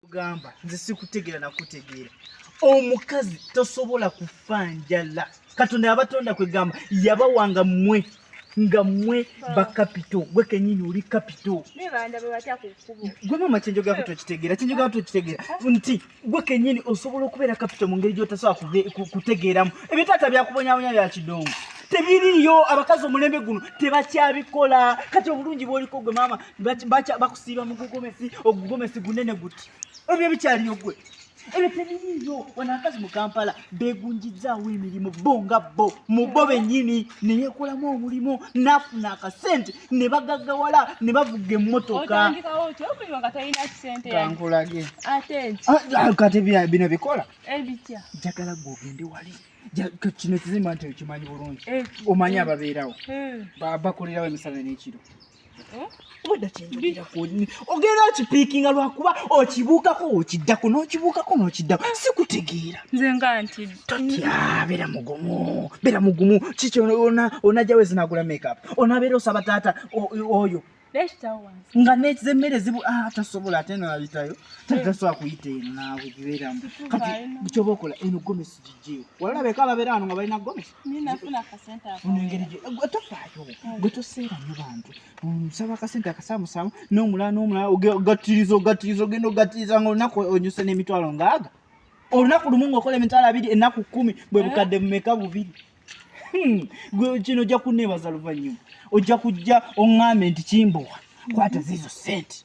gamba nze sikutegeera nakutegeera omukazi tosobola kufa njala katonda yabatonda kwegamba yabawanga mwe nga mwe bakapito gwe kenyini oli kapito gwe mama kyenjogera ku tokitegeera kyenjogera ku tokitegeera nti gwe kenyini osobola okubeera kapito mu ngeri gyotasobola kutegeeramu ebyo taata byakubonyabonya bya kidongo tebiriyo abakazi omulembe guno tebakyabikola kati obulungi bwoliko gwe maama bakusiiba mu gugomesi ogugomesi gunene guti ebyo ebikyaliyo gwe ebyo tebiriiyo wano akazi mu kampala begunjizzaawo emirimu bo nga bo mu bo bennyini ne yeekolamu omulimu n'afuna akasente ne bagaggawala ne bavuga emmotoka kankulage kati bino bikola njagala gwe ogende wali kino kizimba nti okimanyi bulungi eh, omanyi eh, ababeerawo eh. bakolerawo emisana n'ekiro ogenda okipiikinga lwakuba okibuukako okiddako n'okibuukako n'okiddako sikutegeera nze nga nti totya beera mugumu beera mugumu kiki onajja wezinagula makeup onabeera osaba taata oyo nga nezemmere zibu ah, tasobola ate nalitayo tasobola kuyita eno naawe gibeeramu kati kyoba okola eno gomesi gijjeewo walabeko ababeera wano nga balina gomesi tofaayo gwe toseera nyo bantu nsaba akasente akasamusamu nomulala nomulala ogatiriza ogatiriza ogenda ogatiriza nga olunaku onyuse n'emitwalo ngaaga olunaku lumu ngaokola emitwalo abiri ennaku kumi bwe bukadde mumeka bubiri hmm, gwe kino ojja kunneebaza luvannyuma ojja kujja oŋŋambe nti kimbowa kwata ziizo sente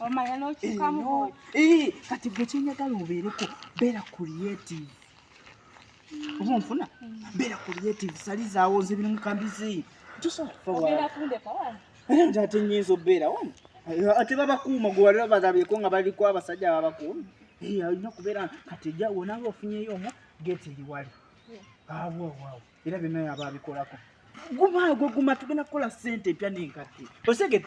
omanya n'okyukamu eh, kati gwe kyenyagala obeereko beera creative oba onfuna beera creative salizaawo nze biri mukambizi tosobola ate nyinza obeera wano ate babakuuma gwe walira bagabyeko nga baliko abasajja babakuuma eh, alina kubeera kati ja wonawe ofunyeyo omu geti liwali awowawo era byonna yaba abikolako gumaago guma tugenda kukola sente empya nenkadde osegede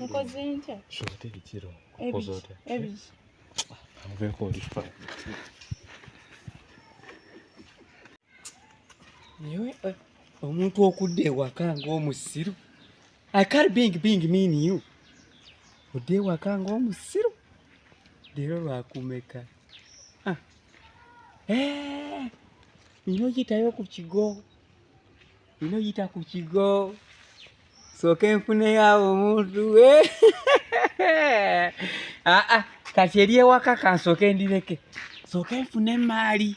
nkoze ntya shote bitiro nkoze otya ebiri amuveko oli fa niwe omuntu okudda ewaka ng'omusiru I can't being being mean you. Ode wakanga omusiru. Dero lwakumeka. Ah. Eh. Ino yita yo ku kigo. Ino yita ku kigo. So kenfune ya omuntu we. Eh. Ah ah. Kati eriye waka kansoke ndireke. So kenfune mali.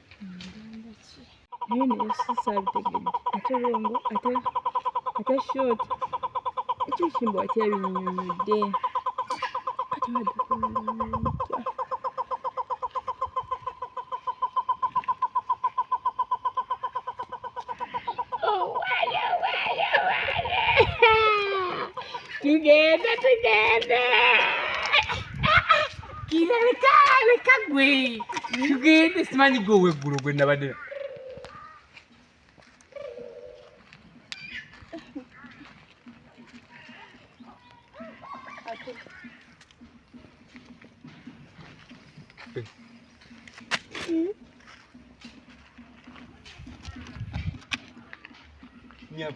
naye naye sisaabitegedde ate longo ate ate short ekyo ekimbo akyabinyonyodde kati baddakuntya tugende tugende kira leka leka gwe tugende simanyi gwe oweggulo gwe nabadde Yep.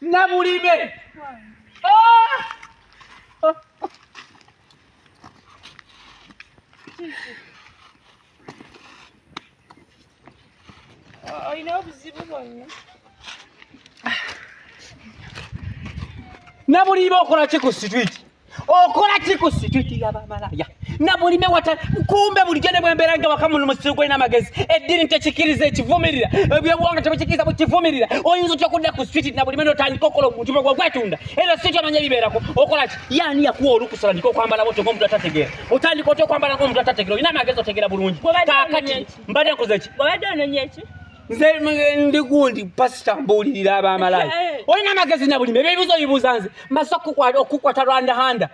nabulime olina ah! obuzibu bwonna nabuliiba okola ki ku situiti okola ki ku situiti yabamalaya na buli mewata kumbe bulijjo ne bwembeera nga wakamuno musiru gwolina amagezi eddini tekikiriza ekivumirira ebyobuwanga tebikikiriza bukivumirira oyinza otya okudda ku situiti na buli mene otandika okola omuntu bwe gwetunda era situiti omanya ebibeerako okola ki yaani yakuwa olukusa otandika okwambala botyo ngaomuntu atategeera otandika otya okwambala ngaomuntu atategeera olina amagezi otegeera bulungi kakati mbadde nkoze ki nze ndi gundi pasita mbuulirira abamalayo eh, eh. olina amagezi na bulimi ebyebibuzo bibuuza nze mbaza okukwata rwanda handa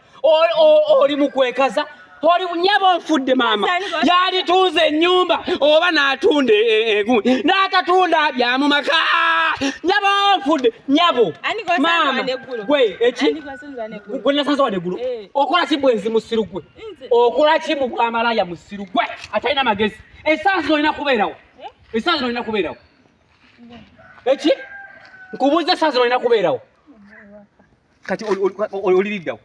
oli mukwekaza oli nyabo nfudde maama yalituuza ennyumba oba n'atunda e, e, egundi n'atatunda byamu maka nyabo nfudde nyabo maama gwe eki gwe nasanze wade gulu eh. okola ki bwenzi musiru gwe okola ki mu bwamalaya musiru gwe atalina magezi esansi olina kubeerawo Esaawa zino olina kubeerawo. Eki? Nkubuuza esaawa zino olina kubeerawo. Kati oliriddawo.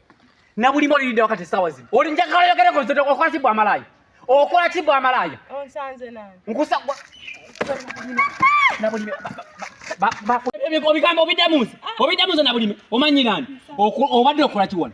Na buli mmoja ndio wakati sawa zima. Uli nje kale yokere kwa zote kwa tibu amalaya. O kwa tibu amalaya. Onsanze nani? Nkusa kwa Na buli ba ba ba bigambo obidamuza. Obidamuza na buli omanyi nani? Obadde okola kiwona.